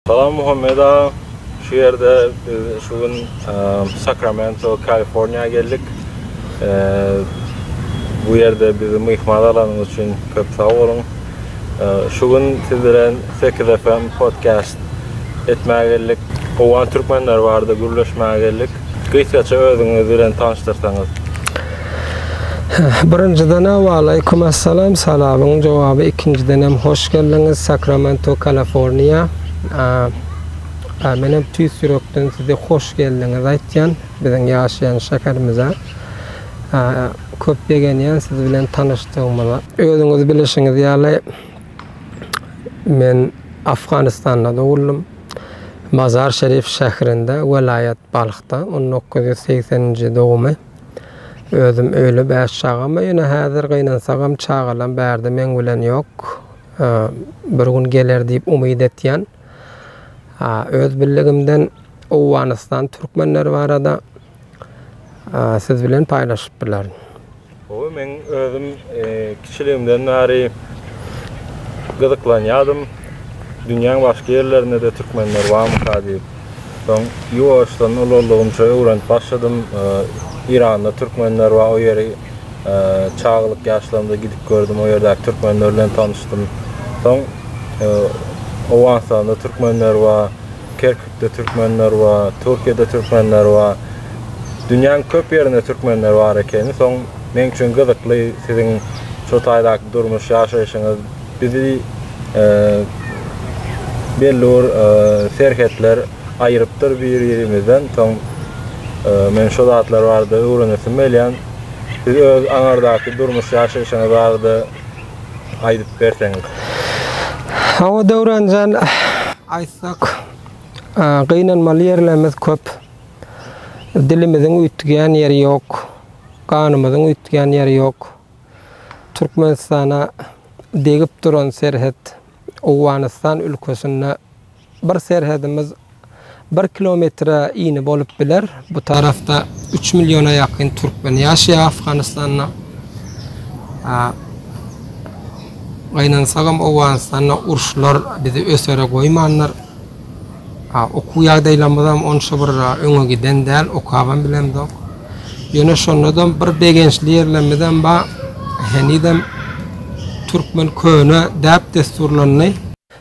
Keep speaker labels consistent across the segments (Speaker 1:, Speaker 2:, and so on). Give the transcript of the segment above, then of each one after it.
Speaker 1: Salam Muhammet aga. Şu ýerde biz şu gün Sakramento, Kaliforniýa geldik. Bu ýerde bizi myhman alanyňyz üçin köp sag boluň. Şu gün siz bilen 8 FM podcast etmäge geldik. Owgan türkmenleri barada gürleşmäge geldik. Gysgaça özüňiz bilen tanyşdyrsaňyz.
Speaker 2: Birinjiden Waleýkum Assalam salamyň jogaby ikinjidenem hoş geldiňiz Sakramento Kaliforniýa Menem tüýs ýürekden size hoş geldiňiz aýtýan biziň ýaşaýan şäherimize Köp begenýän siz bilen tanyşdygymyza. Özüňiz bilişiňiz ýaly men Afganistanda doguldym Mazar Şerif şäherinde welaýat Balhda on dokuz ýüz segsen nji dogumy. Özüm öýli bäş çagama ýöne häzir gynansagam çagalam bärde meň bilen ýok. Bir gün geler diýip umyt etýän. Öz billigimden Owganystan türkmenleri barada siz bilen paýlaşyp bilerin. Gowy meň
Speaker 1: özüm kiçiligimden bäri gyzyklanýadym dünýäň başga ýerlerinde-de türkmenler barmyka diýip. Soň ýuwaşdan ululygymça öwrenip başladym. Eýranda türkmenler bar, o ýeri çagalyk ýaşlarymda gidip gördüm, o ýerdäki türkmenler bilen tanyşdym. Soň Owganystanda türkmenler bar, Kerkükde türkmenler bar, Türkiýede türkmenler bar. Dünýäniň köp ýerinde türkmenler bar ekeni. Soň meň üçin gyzykly siziň şu taýdaky durmuş, ýaşaýşyňyz. Bizi belli bir serhetler aýyrypdyr bir-birimizden. Soň men şu zatlar barada öwrenesim gelýän. Siz öz aňardaky durmuş ýaşaýşyňyz barada aýdyp berseňiz.
Speaker 2: Hawa Döwranjan, aýtsak, gynanmaly ýerlerimiz köp. Dilimiziň üýtgýän ýeri ýok, ganymyzyň üýtgýän ýeri ýok. Türkmenistana degip duran serhet Owganystan ülkesinde bir serhedimiz bir kilometre ini bolup biler. Bu tarafda üç milliona ýakyn türkmen ýaşaýar Afganystanda. Gynansak hem Owganystanda uruşlar bizi ösere goýmandyr. Okuw ýagdaýlarymyzam onça bir öňe giden däl, okabam bilemzok. Ýöne şonda-da bir begençli ýerlerimizem bar, henizem türkmen köne däp-dessurlaryny.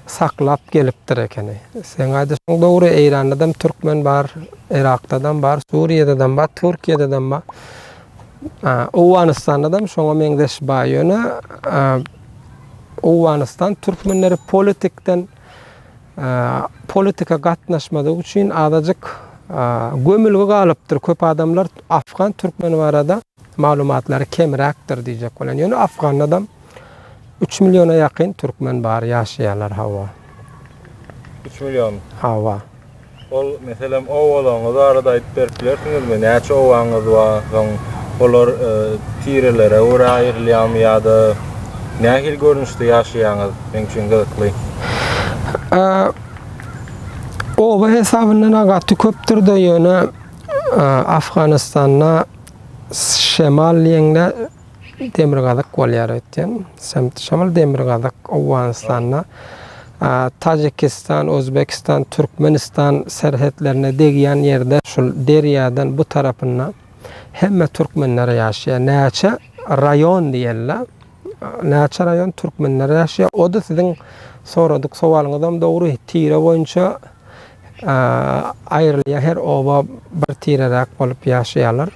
Speaker 2: Saklap gelipdir ekeni. Seň aýdyşyň dogry, Eýrandadam türkmen bar, Yrakdadam bar, Suriýadadam bar, Türkiýededem bar. Owganystanadam şoňa meňzeş bar. Ýöne Owganystan türkmenleri politikden. politika gatnaşmadygy üçin azajyk gömülgi galypdyr. Köp adamlar afgan türkmeni barada maglumatlary kemräkdir diýjek bolan. Ýöne afgandam 3 milliona ýakyn türkmen bar, ýaşaýarlar hawa. 3
Speaker 1: million. Hawa.
Speaker 2: Ol,
Speaker 1: meselem, obalaryňyz barada aýdyp berip bilersiňizmi? Näçe obaňyz bar? Soň olar tirelere görä aýrylýarmy ýa-da nähili görnüşde ýaşaýaňyz? Meň üçin gyzykly. Oba hesabyna-da gaty köpdür-de, ýöne Afganystanda şemal diýeňde, Demirgazyk bolýar öýtýän. Şamyl demirgazyk Owganystanda Tajikistan, Özbekistan, Türkmenistan serhetlerine degýän ýerde şul derýadan bu tarapynda hemme türkmenler ýaşaýar. Näçe raýon diýeli. Näçe raýon türkmenler ýaşaýar. O-da siziň soradyk sowalyňyzam dogry. Tire boýunça aýrylýar. Her oba bir tireräk bolup ýaşaýarlar.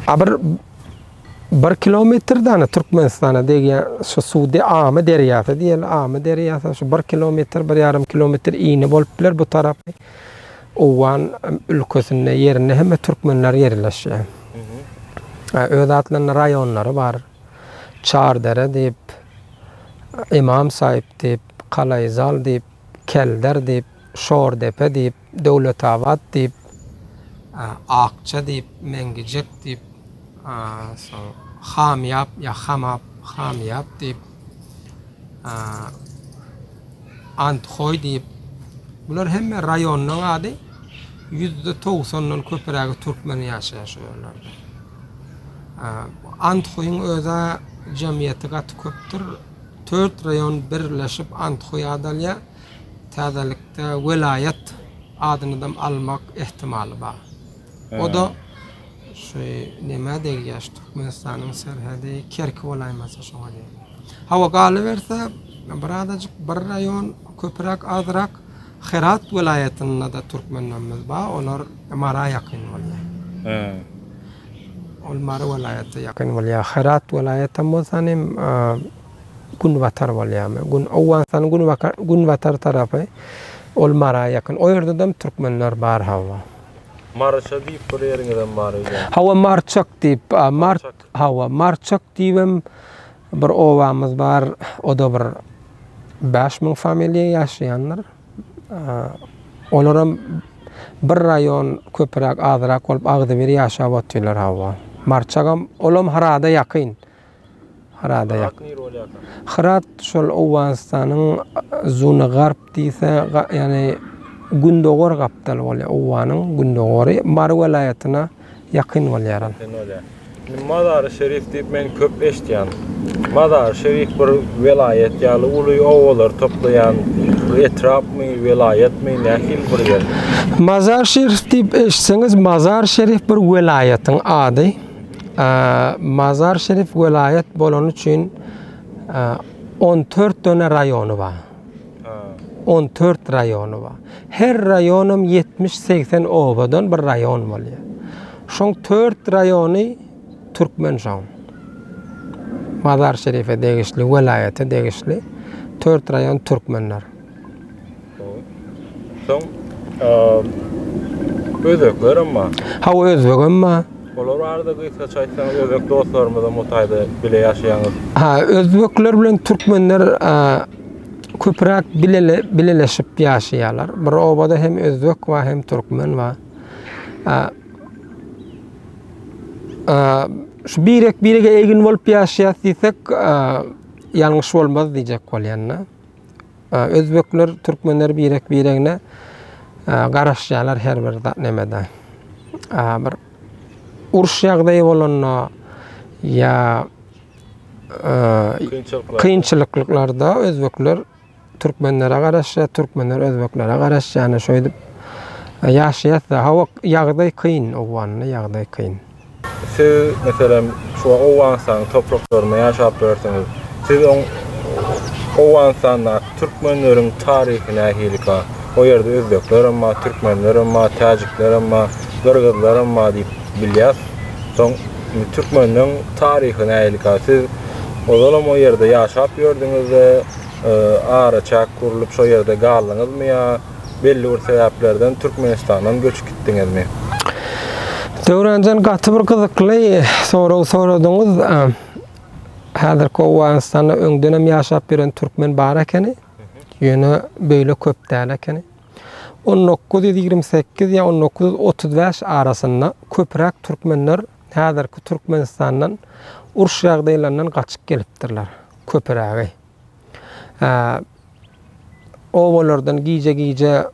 Speaker 1: A bir bir kilometrden Türkmenistana degen şu suwdy Amy derýasy diýen Amy derýasy şu bir kilometr bir ýarym kilometr ini bolup biler bu tarap Owgan ülkesinde ýerinde hem türkmenler ýerleşýär. Öz atlarynda raýonlary bar. Çardere diýip, Imam Saýyp diýip, Kalaýzal diýip, Kelder diýip, Şordepe diýip, Döwletabat diýip. Akja diýip, Meňgijek diýip. Soň Hamyap ýa Hamap, Hamyap diýip. Anthoý diýip. Bular hemme raýonyň ady. Ýüzde togsandan köpürägi türkmen ýaşaýar şu ýerlerde. Anthoýyň öz-ä jemgyýeti gaty köpdür.
Speaker 2: Tört raýon birleşip Anthoý adalýar. Täzelikde welaýat adynydam almak ähtimaly bar. O-da şu nämä degýär, şu Türkmenistanyň serhedi Kerki bolaýmasa şoňa degýär. Hawa, galyberse, birazajyk bir raýon köpräk, azrak Herat welaýatynda-da türkmenlerimiz bar, olar Mara ýakyn bolýar. Hä. Ol Mary welaýata ýakyn bolýar. Herat welaýatam bolsa, nim, Günbatar bolýamy? Gün Owganystanyň günbakar günbatar tarapy ol Mara ýakyn. O ýerdedem türkmenler bar hawa. Maryça
Speaker 3: diýip bir ýeriňizem bar öýdýän. Hawa Marçak
Speaker 2: diýip a Mart hawa Marçak diýibem bir obamyz bar. Oda bir bäş müň familiýa ýaşaýandyr. Olaram bir raýon köpüräk azyrak bolup agzybir ýaşap otyrlar hawa. Marçagam olam Harada ýakyn. Hyrada ýak. Hyrat şol Owganystanyň Zuna Garp diýse, ýagny gündogar gapdaly bolýar. Owganyň gündogary Mary welaýatyna ýakyn bolýar ol. Indi
Speaker 3: Mazary Şerif diýip men köp eşitýän. Mazary Şerif bir welaýat ýaly uly obalar toplaýan etrapmy, welaýatmy, nähili bir ýer? Mazary
Speaker 2: Şerif diýip eşitseňiz, Mazary Şerif bir welaýatyň ady. Mazar Şerif welaýat bolany üçin on dört döne raýony bar. On dört raýony bar. Her raýonam ýetmiş-segsen obadan bir raýon bolýar. Şoň dört raýony türkmen şoň. Mazar Şerife degişli, welaýata degişli dört raýon türkmenler.
Speaker 3: Soň özbeklerem bar. Hawa, özbegem
Speaker 2: bar. Olar barada
Speaker 3: gysgaça aýtsaňyz, özbek dostlarymyzam o taýda bile ýaşaýaňyz. Ha, özbekler
Speaker 2: bilen türkmenler köpräk bileleşip ýaşaýarlar. Bir obada hem özbek bar, hem türkmen bar. Şu birek-birege egin bolup ýaşaýas diýsek, ýalňyş bolmaz diýjek bolýan-da. Özbekler, türkmenler birek-biregine garaşýarlar her bir nemede. Bir uruş ýagdaýy bolanda ýa kynçylyklarda özbekler türkmenlere garaşýar, türkmenler özbeklere garaşýar. Ýöne şeýdip ýaşaýas-da. Hawa, ýagdaý kyn, owganly ýagdaý kyn. Siz,
Speaker 3: meselem, şu Owganystanyň topraklarynda ýaşap ýörsiňiz. Siz oň Owganystandaky türkmenleriň taryhy nähilikä? O ýerde özbekler hem bar, türkmenler hem bar, täjikler hem bar, gyrgyzlar hem bar diýip bilýäs. Soň indi türkmenleň taryhy nähilikä? Siz ozalam o ýerde ýaşap ýördüňiz-de, araçäk gurlup şo ýerde galdyňyzmy ýa? belli bir sebäplerden Türkmenistandan göçüp gitdiňizmi?
Speaker 2: Döwranjan gaty bir gyzykly sorag soradyňyz. Häzirki Owganystanda öňdenem ýaşap ýören türkmen bar ekeni. Ýöne beýle köp däl ekeni. 1928 ýa 1935 arasynda köpräk türkmenler häzirki Türkmenistandan uruş ýagdaýlaryndan gaçyp gelipdirler. Köprägi. obalardan gije-gije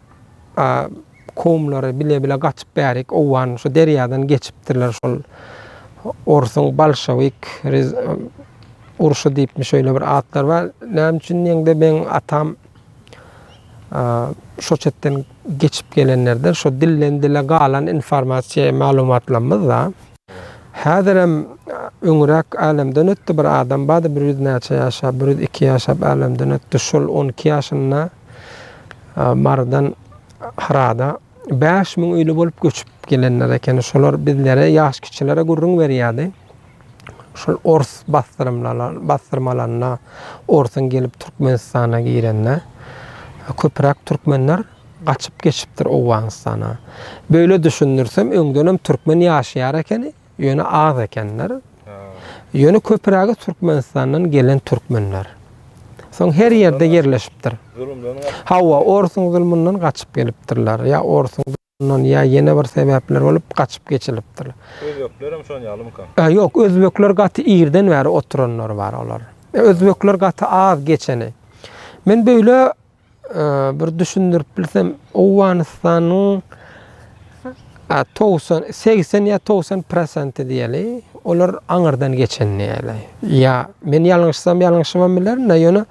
Speaker 2: kowumlary bile-bile gaçyp bärik owan şu derýadan geçipdirler şol orsuň bolşewik urşy diýipmi şeýle bir atlar bar näme üçin diýeňde meň atam şo çetden geçip gelenlerde şo dilden dile galan informasiýa maglumatlarymyz da Häzirem öňräk älemden ötdi bir adam bardy bir ýüz näçe ýaşap bir ýüz iki ýaşap älemden ötdi şol on iki ýaşynda marydan hyrada bäş müň öýli bolup göçüp gelenler ekeni şolar bizlere ýaş kiçilere gürrüň berýärdi şol ors basdyrmalanda orsuň gelip türkmenistana girende köpräk türkmenler gaçyp geçipdir Owganystana. Böyle düşündirsem öňdenem türkmen ýaşaýar ekeni, ýöne az ekenler. Ýöne köpürägi Türkmenistandan gelen türkmenler. Soň her ýerde ýerleşipdir. Hawa, orsuň zulmundan gaçyp gelipdirler. Ýa orsuň zulmundan ýa ýene bir sebäpler bolup gaçyp geçilipdir. Özbeklerem şon
Speaker 3: ýalymyka? Ä ýok, özbekler
Speaker 2: gaty irden bäri oturanlar bar olar. Özbekler gaty az geçeni. Men böyle bir düşündirip bilsem, Owganystanyň togsan, segsen ýa togsan prosenti diýeli,
Speaker 1: olar aňyrdan geçen diýeli. Ýa men ýalňyşsam, ýalňyşybam bilerin-de, ýöne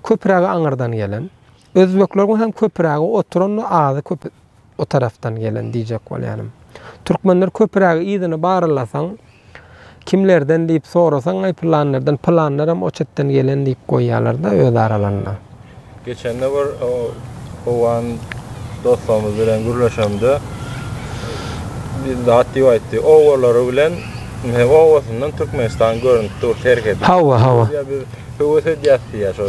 Speaker 1: köprägi aňyrdan gelen. Özbekleriň hem köprägi oturan-da, azy köp o tarapdan gelen diýjek bolýanym. Türkmenler köpürägi yzyny barlasaň, kimlerden diýip sorasaň, aý pylanlardan, pylanlar hem o çetden gelen diýip goýýarlar-da öz aralarynda. Geçende
Speaker 3: bir o howan dostumyz bilen gürleşemde bir zat diýip aýtdy. Obalary bilen, hem obasyndan Türkmenistan görünip dur, terk edip. Hawa, hawa. Ýa biz Höwes edýäs diýýär şo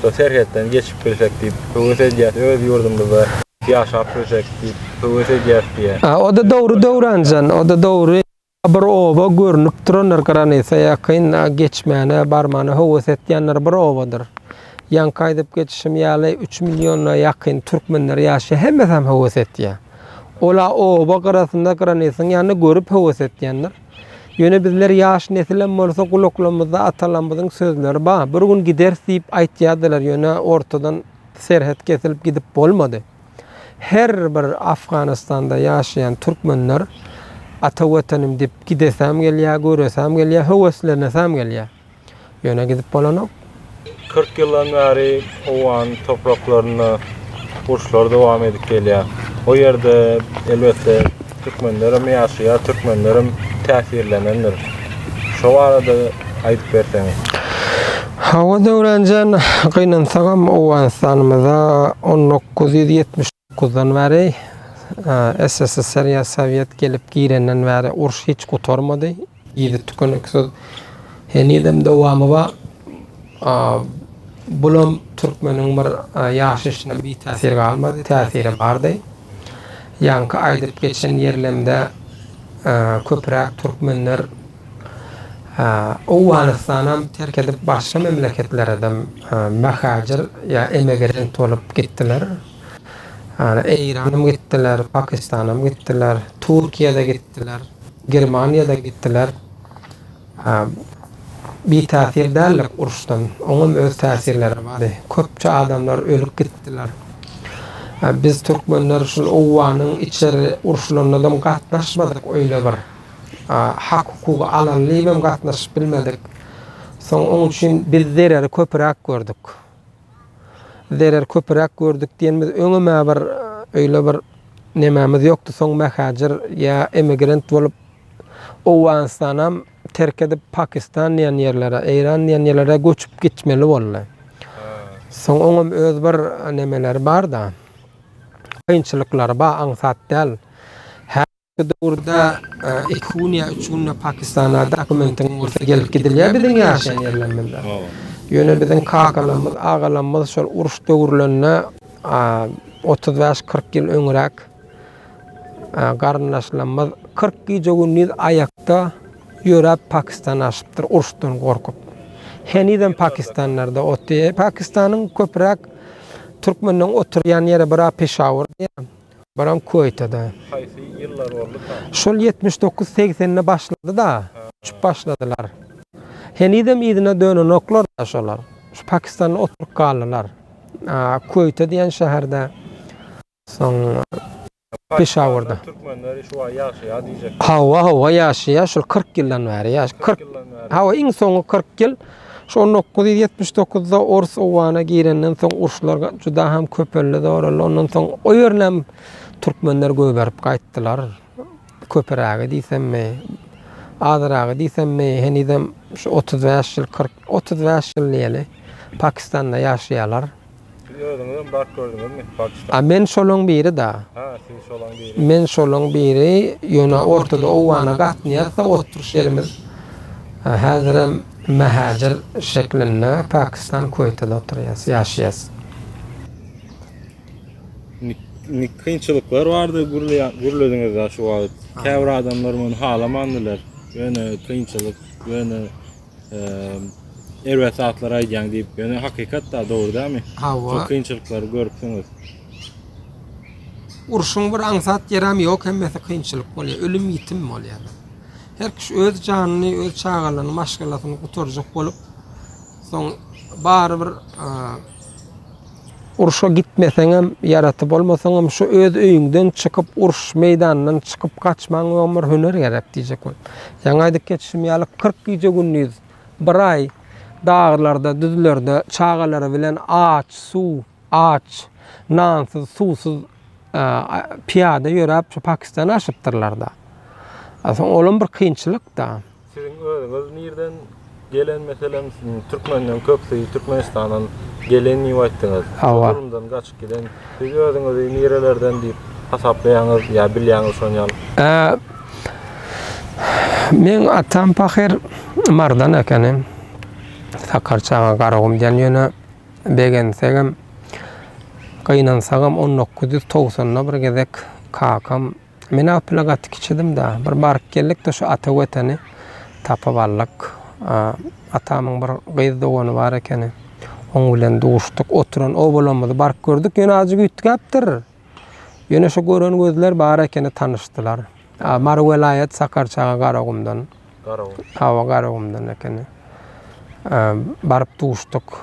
Speaker 3: şo serhetden geçip bilsek diýip höwes edýäs öz ýurdumyzda ýaşap bilsek diýip höwes edýäs diýýär. A o-da dogry
Speaker 1: Döwranjan o-da dogry. Bir oba görnüp durandyr granisa ýakyn a geçmäne barmana höwes etýänler bir obadyr. Ýaňky aýdyp geçişim ýaly üç milliona ýakyn türkmenler ýaşaýar hemmesem höwes etýär. Ol a oba gyrasynda granisyň ýanynda görüp höwes etýändir. Ýöne bizler ýaş nesilem bolsa gulaklamyzda atalamyzyň sözleri ba, bir gün gideris diýip aýtýadylar ýöne ortadan serhet kesilip gidip bolmady. Her bir Afganistanda ýaşaýan türkmenler ata wetenim dip gidesäm gelýä göresäm gelýä höweslenesäm gelýä. Ýöne gidip bolanok. Kyrk
Speaker 3: ýyldan bäri owgan topraklarynda uruşlar dowam edip gelýär. O ýerde, elbetde, türkmenlerem ýaşaýar, türkmenlerem täsirlenendir. Şo barada aýdyp berseňiz.
Speaker 1: Hawa, Döwranjan, gynansagam, Owganystanymyza on dokuz ýüz ýetmiş. Guzdan bäri, SSSR ýa Sowet gelip girenden bäri uruş hiç gutarmady. Yzy tükeniksiz henizem dowamy bar. Bulam türkmeniň bir ýaşaýşyna bitäsir galmady, täsiri bardy. Ýaňky aýdyp geçen ýerlemde köpüräk türkmenler Owganystanam terk edip başga memleketleredem möhäjir ýa emegerent bolup gitdiler. Ýani Eýranam gitdiler, Pakistanam gitdiler, Türkiýede gitdiler, Germaniýada gitdiler. Bitäsir däldik uruşdan. Oňam öz täsirleri bary. Köpçe adamlar ölüp gitdiler. Biz türkmenler şul owanyň içeri urşulanadam gatnaşmadyk öýle bir. Hak hukugy alan libem gatnaşyp bilmedik. Soň oň üçin biz zereri köpüräk gördük. zerer köpüräk gördük diýen biz öňem-ä bir öýle bir nemämiz ýokdy. Soň mähäjir ýa emigrant bolup Owganystanam terk edip Pakistan diýen ýerlere, Eýran diýen ýerlere göçüp gitmeli boldy. Soň oňam öz bir nemeleri bar-da. Kynçylyklary bar, aňsat däl. Häzirki döwürde iki gün ýa üç günde Pakistana dokumentiň bolsa gelip gidilýär biziň ýaşaýan ýerlerimizden. Ýöne biziň kakalarymyz, agalarymyz şol uruş döwürlerinde otuz bäş, kyrk ýyl öňräk garyndaşlarymyz kyrk gije-gündiz aýakda ýöräp Pakistana aşypdyr uruşdan gorkup. Henizem pakistanlarda otdy. Pakistanyň köpräk türkmenleriň oturýan ýeri bira Peşawur diýýär. Baram Kuweýtede. Haýsy ýyllar
Speaker 3: boldy ka? Şol ýetmiş dokuz
Speaker 1: segsende başlady-da, uçup başladylar. Henizem yzyna dönenoklar-da şolar. Şu Pakistanda oturyp galdylar. Kuweýte diýen şäherde, soň Peşawurda. Türkmenleri şu
Speaker 3: wagt ýaşaýar diýjekdim. Hawa, hawa ýaşaýar.
Speaker 1: Şol kyrk ýyldan bäri ýaş. Kyrk ýyldan bäri. Hawa, iň soňky kyrk ýyl. Şol dokuz ýüz ýetmiş dokuzda ors owgana girenden soň uruşlar juda hem köpeldi, zoraldy. Ondan soň o ýerinem türkmenler gögerip gaýtdylar. Köpürägi diýsemmi, azyragy diýsemmi, henizem şu otuz bäş ýyl, kyrk, otuz bäş ýyl diýeli, Pakistanda ýaşaýarlar. Siz özüňizem
Speaker 3: bak gördüňizmi Pakistan? A men şolaň biri
Speaker 1: da. Ha siz şolaň biri.
Speaker 3: Men şolaň biri
Speaker 1: ýöne ortada owgana gatnaýasda oturyş ýerimiz häzirem mähäjir şeklinde Pakistan Kuweýtede oturýas ýaşaýas.
Speaker 3: Indi kynçylyklar bardy gürlediňiz da şu wagt. Käbir adamlar muny halamandylar. Ýöne kynçylyk ýöne erbet zatlar aýdýaň diýip, ýöne hakykat da dogry dämi? Hawa. Çok kynçylyklary görüpsiňiz.
Speaker 1: Urşuň bir aňsat ýeräm ýok, hemmesi kynçylyk bolýar, ölüm ýitim bolýar. Her kişi öz janyny, öz çagalaryny, maşgalasyny gutarjak bolup, soň barybir Urşa gitmeseňem, ýaraty bolmasaňam, şu öz öýüňden çykyp, uruş meýdanyndan çykyp gaçmaň öň bir hüner gerek diýjek bol. Ýaňy aýdyp geçişim ýaly, kyrk gije-gündiz, bir aý daglarda, düzlerde çagalary bilen aç, suw, aç, nansyz, suwsuz pyýada ýöräp, şu Pakistany aşypdyrlar-da. Soň olam bir kynçylyk-da. Siziň özüňiz
Speaker 3: nirden gelen meselem türkmenden köpsi türkmenistandan gelen diýip aýtdyňyz. Hawa. Zulumdan gaçyp giden. Siz özüňizi nirelerden diýip hasaplaýaňyz ýa bilýäňiz şony ýaly? Ää,
Speaker 1: Meň atam pahyr Mardan ekeni. Sakarçaga Garagum diýen ýöne begensegem, gynansagam on dokuz ýüz togsanda bir gezek kakam Men Apyla gaty kiçidim-da, bir baryp geldik-de şu Ata Weteni tapyp aldyk. Atamyň bir gyz dogany bar ekeni. Oň bilen duşduk, oturan obalamyzy baryp gördük, ýöne azajyk üýtgäpdir. Ýöne şu gören gözler bar ekeni, tanyşdylar. Mary welaýat, Sakarçaga, Garagumdan. Garagum. Hawa, Garagumdan ekeni. Baryp duşduk.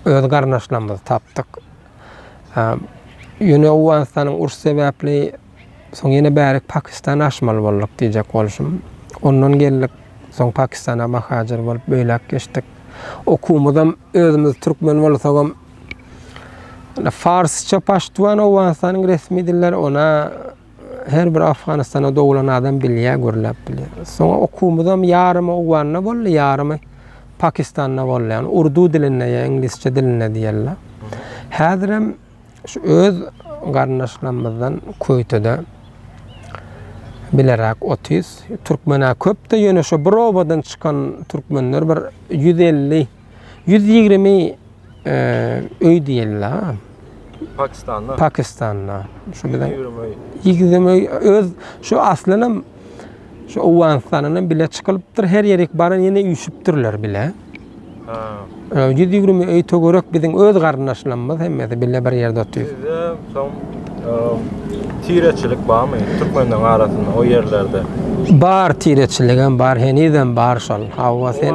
Speaker 1: Öz garyndaşlarymyzy tapdyk. Ýöne Owganystanyň uruş sebäpli soň ýene bärik Pakistana aşmaly bolduk diýjek bolşum. Ondan geldik, soň Pakistana mahajer bolup beýläk geçdik. Okuwymyzam özümiz türkmen bolsagam farsça, paştwan Owganystanyň resmi dilleri, ona Her bir Afganistana doglan adam bilýär, gürläp bilýär. Soňa okuwymyzam ýarymy Owganda boldy, ýarymy Pakistanda boldy. Ýagny urdu dilinde ýa iňlisçe dilinde diýerler. Häzirem şu öz garyndaşlarymyzdan Köýtede bileräk otuz türkmen-ä köp-de, ýöne şo bir obadan çykan türkmenler bir ýüz elli Ýüz ýigrimi öý diýildi-ä. Pakistanda. Pakistanda. Şu bilen ýigrimi öý öz şu aslynam şu Owganystandan bile çykylypdyr. Her ýerik baran ýene üýşüpdirler bile. Ha. Ýüz ýigrimi öý töwerek biziň öz garyndaşlarymyz hemmesi bile bir ýerde otyr. Sizde soň
Speaker 3: tireçilik barmy türkmenleriň arasynda o ýerlerde? Bar
Speaker 1: tireçiligem bar, henizem bar şol. Hawa sen.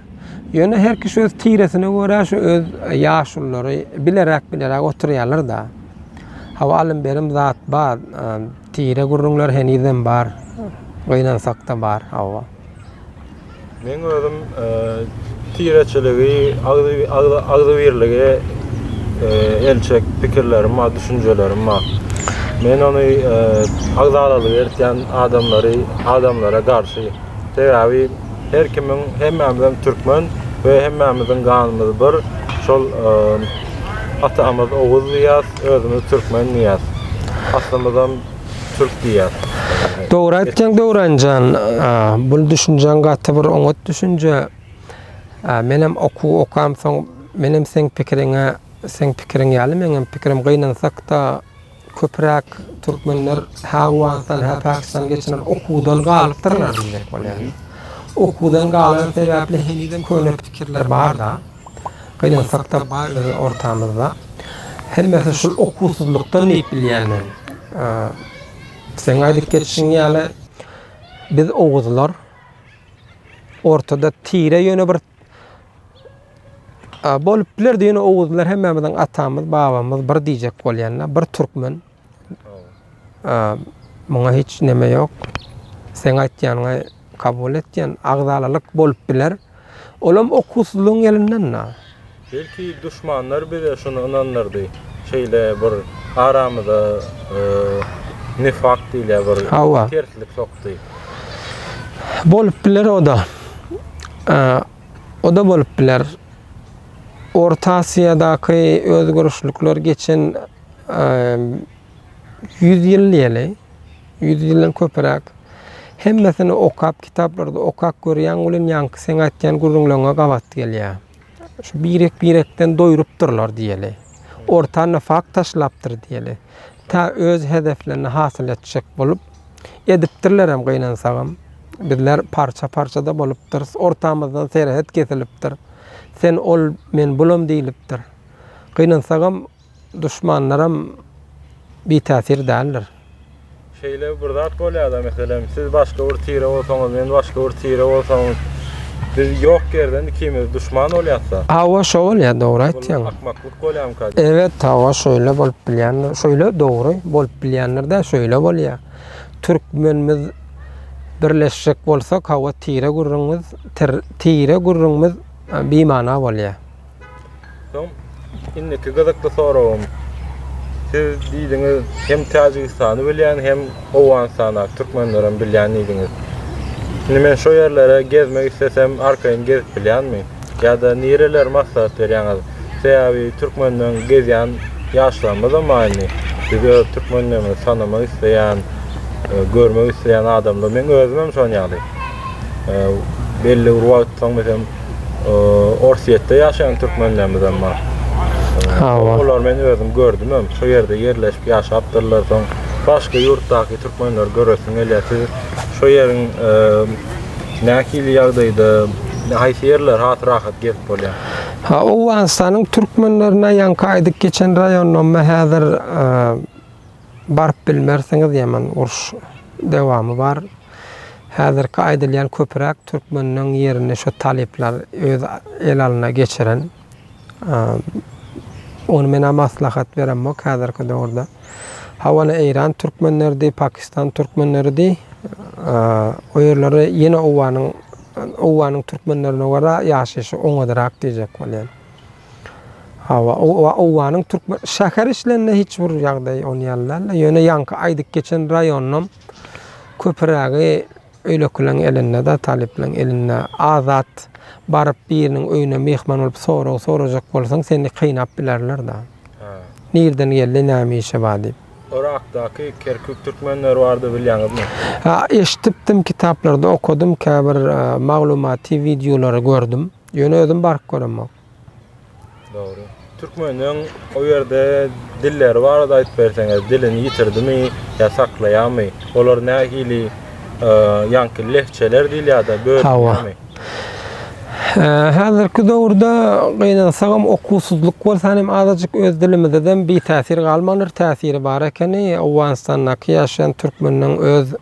Speaker 1: Ýöne her kişi öz tiresine görä şu öz ýaşululary bileräk-bileräk oturýarlar-da. Hawa, alym-berim zat bar, tire gürrüňler henizem bar, gynansak-da bar, hawa.
Speaker 3: Meň özüm tireçiligi, agzybirligi elçek pikirlerim bar, düşünjelerim bar. Men ony agzalalyk ertýän adamlary, adamlara garşy. Sebäbi her kimiň hemmämizem türkmen we hemmämiziň ganymyz bir şol atamyz oguz diýýäs özümiz türkmen diýýäs aslymyzam türk diýýäs. Dogry
Speaker 1: aýtýaň Döwranjan bul düşünjäň gaty bir oňat düşünje menem okuw okamsoň menem seň pikiriňe seň pikiriň ýaly meňem pikirim gynansakda Köpüräk türkmenler hä Owganystan, hä Pakistan geçiren okuwdan galypdyrlar diýjek bolýan. Okuwdan galany sebäpli henizem köne pikirler bar-da, gynansak-da ortamyzda. Hemmesi şul okuwsyzlykdan diýip bilýän men. Seň aýdyp geçişiň ýaly, biz oguzlar ortada tire ýöne bir A bolup biler diýen oguzlar hemmämiziň atamyz, babamyz bir diýjek bolýanda, bir türkmen. A muňa hiç näme ýok. Sen aýtýanyňy kabul etýän agzalalyk bolup biler. Olam okuwsyzlygyň elinden. Belki
Speaker 3: duşmanlar bize şuny ynandyrdy, şeýle bir aramyza nifak diýilýär bir Hawa. terslik sokdy.
Speaker 1: Bolup biler o-da. O-da bolup biler. Orta Aziýadaky özgerişlikler geçen ýüz ýyl diýeli, ýüz ýyldan köpüräk. Hemmesini okap, kitaplarda okap görýäň welin ýaňky seň aýtýan gürrüňleriňe gabat gelýär. Şu birek-birekden doýrupdyrlar diýeli. Ortanda fakt taşlapdyr diýeli. Tä öz hedeflerini hasyl etjek bolup, edipdirlerem gynansagam. Bizler parça-parça-da bolupdyrys. Ortamyzdan serhet kesilipdir. Sen ol, men bulam diýlipdir. Gynansagam. Duşmanlaram bitäsir däldir. Şeýle
Speaker 3: bir zat bolýar-da, meselem, siz başga bir tire bolsaňyz, men başga bir tire bolsam, biz ýok ýerden ikimiz duşman bolýas-da. Hawa, şo bolýar,
Speaker 1: dogry aýtýaň. Bul akmaklyk bolýarmyka
Speaker 3: diýip. Ebet, hawa, şeýle
Speaker 1: bolup bilýändir. Şeýle, dogry, bolup bilýändir-dä, şeýle bolýar. Türkmenimiz birleşjek bolsak, hawa, tire gürrüňimiz, tire gürrüňimiz bimana bolýar. Soň
Speaker 3: indiki gyzykly soragym. Siz diýdiňiz, hem Täjigistany bilýän, hem Owganystany, türkmenleri hem bilýän diýdiňiz. Indi men şu ýerlere gezmek islesem, arkaýyn gezip bilýänmi? Ýa-da nireleri maslahat berýäňiz? Sebäbi türkmenden gezýän ýaşlarymyzam bar indi. Biz öz türkmenlerimizi tanamak isleýän, görmek isleýän adamlar, meň özüm hem şonuň ýaly. Belli bir wagt soň, meselem, Orsýetde ýaşaýan türkmenlerimiz hem bar. Olar men özüm gördüm hem, şu ýerde ýerleşip ýaşapdyrlar. Soň başga ýurtdaky türkmenleri göresim gelýär. Siz şu ýeriň nähili ýagdaýda, haýsy ýerler has rahat gezip bolýar? Ha, Owganystanyň
Speaker 1: türkmenlerine ýaňky aýdyp geçen raýonymda häzir Baryp bilmersiňiz ýaman uruş dewamy bar häzirki aýdylýan köpüräk türkmeniň ýerini şo talyplar öz el alyna geçiren ony menä maslahat beremok häzirki döwürde hawana eýran türkmenleridi pakistan türkmenleridi o ýerleri ýene owanyň owanyň türkmenlerine görä ýaşaýşy oňadyrak diýjek bolýan. Hawa, owanyň türkmen şäher işlerinde hiç bir ýagdaý on ýaly däl. Ýöne ýaňky aýdyp geçen raýonynam köpürägi öýlekileriň elinde-de, talyplaryň elinde. Azat baryp biriniň öýüne myhman bolup sorag sorajak bolsaň, seni kynap bilerler-de. Nirden geldi, näme işi bar diýip. Yrakdaky
Speaker 3: Kerkük türkmenleri barada bilýäňizmi? Eşidipdim,
Speaker 1: kitaplarda okadym, käbir maglumaty wideolary gördüm. Ýöne özüm baryp göremok.
Speaker 3: Dogry. Türkmeniň o ýerde dilleri barada aýdyp berseňiz, dilini ýitirdimi ýa saklaýarmy? Olar nähili ýaňky lehçeler diýilýär-de bölünýärmi?
Speaker 1: Häzirki döwürde gynansagam okuwsyzlyk bolsa hem azajyk öz dilimizedem bitäsir galmandyr, täsiri bar ekeni. Owganystandaky ýaşaýan türkmeniň öz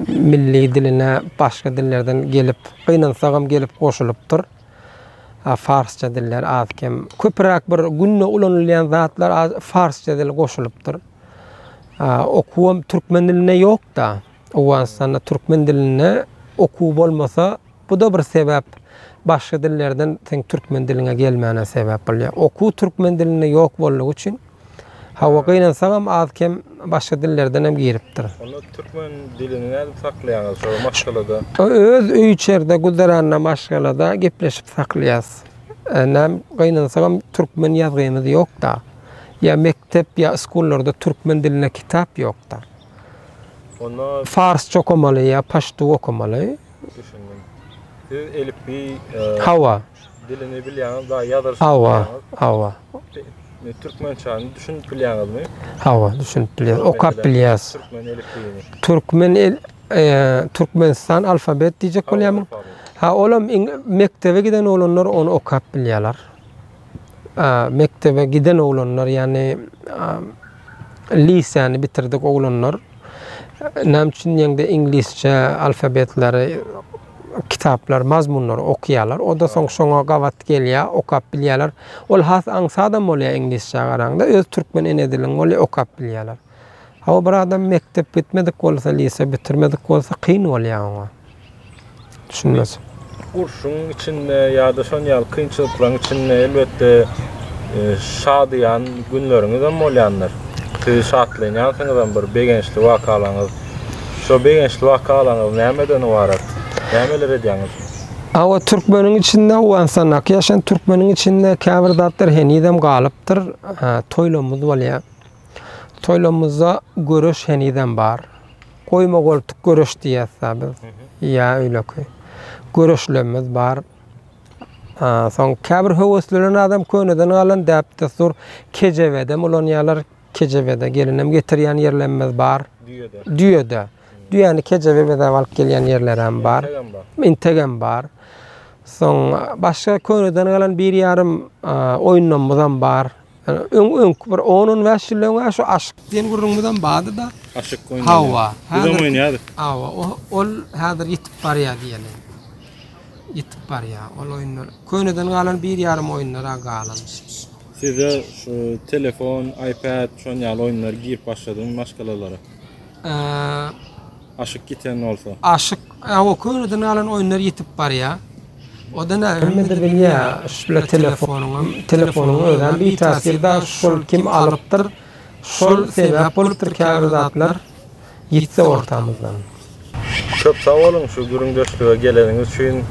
Speaker 1: Milli diline başga dillerden gelip, gynansagam gelip goşulypdyr. Farsça diller az-kem. Köpüräk bir günde ulanylýan zatlar az farsça dil goşulypdyr. Okuwam türkmen dilinde ýok-da. Owganystanda türkmen dilinde okuw bolmasa, Bu-da bir sebäp. Başga dillerden seň türkmen diliňe gelmäne sebäp bolýar. Okuw türkmen dilinde ýok boldugy üçin, hawa, gynansaňam az-kem başga dillerdenem giripdir. Onda türkmen
Speaker 3: dilini nädip saklaýaňyz şol maşgalada? Öz
Speaker 1: öý-içerde, güzeranda, maşgalada gepleşip saklaýarys. Näm, gynansaňam türkmen ýazgymyz ýok-da. Ýa mekdep, ýa skullarda türkmen dilinde kitap ýok-da. Onda
Speaker 3: Farsça okamaly
Speaker 1: ýa paştu okamaly. Düşündim.
Speaker 3: Siz elipbiý Hawa.
Speaker 1: dilini
Speaker 3: bilýäňiz, daýy ýazylyşyny Hawa. bilýäňiz. Hawa.
Speaker 1: Indi
Speaker 3: türkmençäni düşünip bilýäňizmi? Hawa, düşünip
Speaker 1: bilýäs. Okap bilýäs. Türkmen elipbiýini.
Speaker 3: Türkmen el eee,
Speaker 1: Türkmenistan alfabet diýjek bolýarmyň? Hawa, alfabet. Ha, olam iň mekdebe giden oglanlar ony okap bilýärler. mekdebe giden oglanlar, ýagny liseýany bitirdik oglanlar näme üçin ýeňde iňlisçe alfabetleri, kitaplar, mazmunlary okýarlar. O da soň şoňa gabat gelýär, okap bilýärler. Ol has aňsadam bolýar iňlisçä garaňda. Öz türkmen ene dilin bolýar, okap bilýärler. Hawa bir adam mekdep gitmedik bolsa lise bitirmedik bolsa kyn bolýa oňa. Düşünmez. Urşuň
Speaker 3: içinde ýa-da şon ýaly kynçylyklaryň içinde elbetde e, şadyýan günleriňiz hem bolýandyr. Siz şatlanýansyňyzam bir begençli wakalaryňyz. Şo begençli wakalaryňyz nämeden ybarat? Nämeler edýäňiz? Awa
Speaker 1: türkmeniň içinde Owganystandaky ýaşan türkmeniň içinde käbir zatlar henizem galypdyr. Toýlarymyz bolýar. Toýlarymyzda göreş henizem bar. Goýma-goltuk göreş diýýäs-dä biz. Ýa öýleki. Göreşlerimiz bar. Soň käbir höweslenen adam köneden galan däp-dessur kejebedem ulanýarlar. Kejebede gelinem getirýän ýerlerimiz bar. Düýede. Düýede. Düýäni kejebe bezäp alyp gelýän ýerlerem bar. Integem bar. Integem bar. Soň başga köneden galan bir ýarym oýunlarymyzam bar. Öňki bir on-on bäş ýyldan bäri şu aşyk diýen gürrüňimizem bardy-da. Aşyk oýnady. Hawa.
Speaker 3: Bizem
Speaker 1: oýnaýardyk.
Speaker 3: Hawa, ol
Speaker 1: häzir ýitip barýar diýeli. Ýitip barýar. Ol oýunlar köneden galan bir ýarym oýunlar-a galan. Sizde
Speaker 3: şu telefon, iPad şon ýaly oýunlar girip başladymy maşgalalara? Aşyk ýiten bolsa. Aşyk Awa
Speaker 1: köneden alan oýunlar ýitip barýa. Oda nä hemmede bilýä şpla telefonuňam telefonuň özem bitasir da şol kim alypdyr şol sebäp bolupdyr käbir zatlar ýitse ortamyzdan. Köp
Speaker 3: sag boluň şu gürüňdeşlige geleniňiz üçin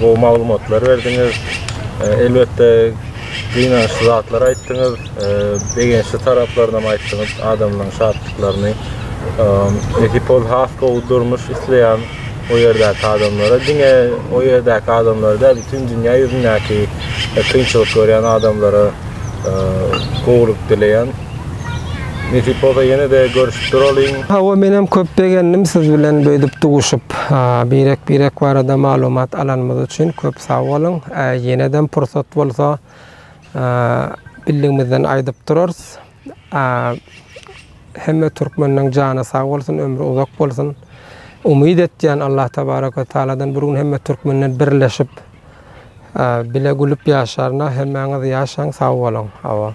Speaker 3: gowy maglumatlar berdiňiz elbetde. Gynançly zatlar aýtdyňyz, e, begençli taraplaryny hem aýtdyňyz, adamlaryň şatlyklaryny. E, Ekipol has gowy durmuş isleýän o ýerdäki adamlara, diňe o ýerdäki adamlara däl, bütün dünýä ýüzündäki e, kynçylyk görýän adamlara e, gowulyk dileýän. Nesip bolsa ýene de görüşip duralyň. Hawa menem köp
Speaker 1: begendim siz bilen beýdip duşup. Birek birek barada maglumat alanymyz üçin köp sag boluň. Ýenedem pursat bolsa birligimizden aýdyp durarys. Hemme türkmeniň jany sag bolsun, ömri uzak bolsun. Umyt etýän Allah tebaraka taaladan bir gün hemme türkmenden birleşip bile gülüp ýaşaryna hemmäňiz ýaşaň sag boluň. Hawa.